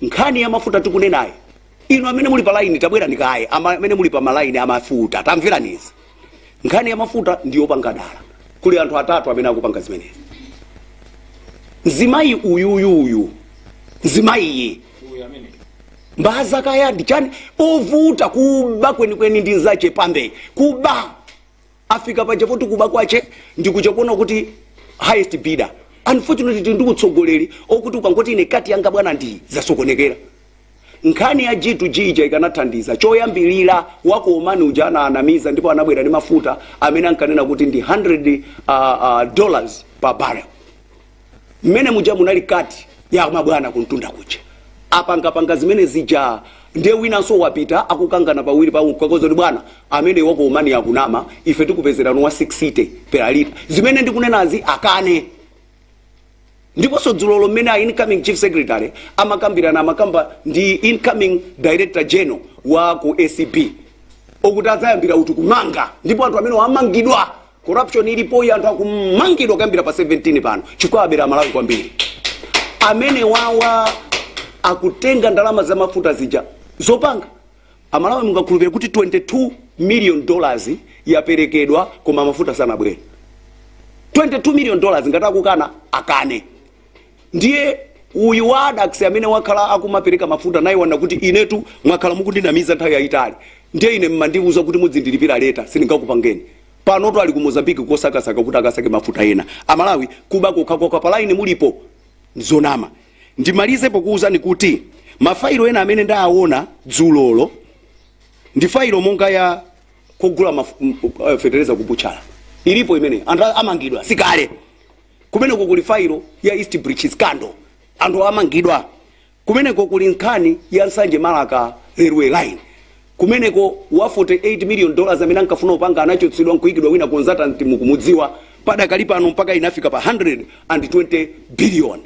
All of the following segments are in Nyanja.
nkhani ya mafuta tikunenayi inu amene muli pa laini tabwerani kaye ama- amene muli pa malaini amafuta tamverani izi nkhani ya mafuta ndi yopanga dala kuli anthu atatu amene akupanga zimenezi mzimayi uyuyuyu mzimayiyi mbaza kaya ndi chani ovuta kuba kwenikweni ndi nzache pambe kuba afika paja poti kuba kwache ndikuja kuona kuti highest bidder unfortunately tili ndi utsogoleri okuti ukangoti ine kati yanga bwana ndi zasokonekera nkhani ya g2g ija ikanathandiza choyambirira wako omani uja anaanamiza ndipo anabwera ndi mafuta amene ankanena kuti ndi 100 uh, uh, dollars per barrel mmene muja munali kati ya mabwana kuntunda kuja apangapanga zimene zija ndiye winanso wapita akukangana pawiri pa ukakoza kuti bwana amene wako omani akunama ife tikupezerano wa 6 per lita zimene ndikunenazi akane ndiponso dzulolo mmene a incoming chief secretary amakambirana amakamba ndi incoming director general wa ku acb okuti adzayambira uti kumanga ndipo anthu amene amangidwa Corruption ilipoyi anthu akumangidwa kuyambira pa 17 pano chifukwa abera Amalawi kwambiri. Amene wawa akutenga ndalama za mafuta zija zopanga Amalawi mungakhulupirira kuti 22 million dollars yaperekedwa koma mafuta sanabwere. 22 million dollars ngati akukana akane. ndiye uyu wa addax amene wakhala akumapereka mafuta naye wanena kuti inetu mwakhala mukundinamiza nthawi yayitali ndiye ine mmandiuza kuti mudzindilipira later sindingakupangeni panotu ali ku mozambiki kosakasaka kuti akasake mafuta ena amalawi kuba kokhakoka palaini mulipo zonama ndimalize pokuwuzani kuti mafailo ena amene ndaawona dzulolo ndi failo monga ya kugula maf- m- m- eh, fetereza kubuchala ilipo imene anthu amangidwa sikale Kumeneko kuli failo ya East Bridge Scandal, anthu amangidwa. Kumeneko kuli nkhani ya Nsanje-Marka Railway Line. Kumeneko wa 48 million dollars amene ankafuna kupanga anachotsedwa nkuikidwa wina consultant mukumudziwa. Padakali pano mpaka inafika pa 120 billion.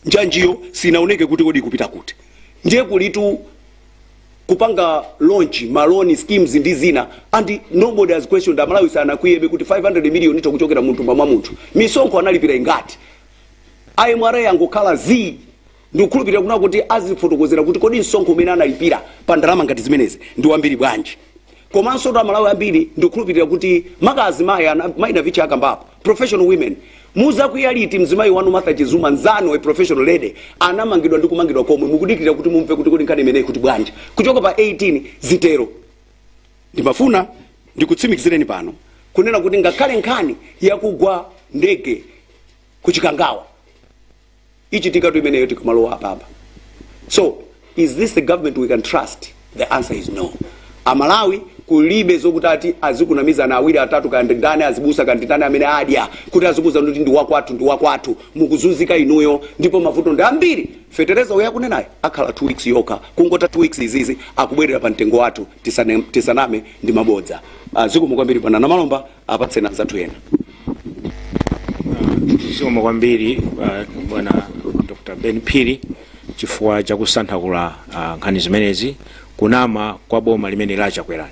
Njanjiyo sinaoneke kuti kodi ikupita kuti. Ndiye kulitu kupanga launch ma loan schemes ndi zina and nobody has questioned Amalawi sanakwiyebe kuti 500 million itha kuchokera munthumba mwa munthu. Misonkho analipira ingati? MRA yangokhala zii. Ndikukhulupirira kunena kuti azifotokozera kuti kodi msonkho umene analipira pa ndalama ngati zimenezi ndi wambiri bwanji. Komansotu Amalawi ambiri ndikukhulupirira kuti maka azimayi, Mayi Navicha akambapo, professional women muzakwiya liti mzimayi wanu martha chizuma nzanu a professional lady anamangidwa ndi kumangidwa komwe mukudikirira kuti mumve kuti kodi nkhani imeneyi kuti bwanji kuchoka pa 18 zitero ndimafuna ndikutsimikizireni pano kunena kuti ngakhale nkhani yakugwa ndege kuchikangawa ichitikatu imeneyo tikamalowa apapa so is this the government we can trust the answer is no amalawi kulibe zokuti ati azikunamizana awiri atatu kaya ndani azibusa kaya ndani amene adya kuti azikuuza kuti ndi wakwathu ndi wakwathu mukuzunzika inuyo ndipo mavuto ndi ambiri fetereza uyo akunenayo akhala 2 weeks yokha kungotha 2 weeks izizi akubwerera pa mtengo wathu tisane- tisaname ndi mabodza Ah, zikomo kwambiri bwana namalomba apatseni anzathu ena zikomo kwambiri uh, bwana dr ben phiri chifukwa chakusanthula uh, nkhani zimenezi kunama kwa boma limeneli la chakwerali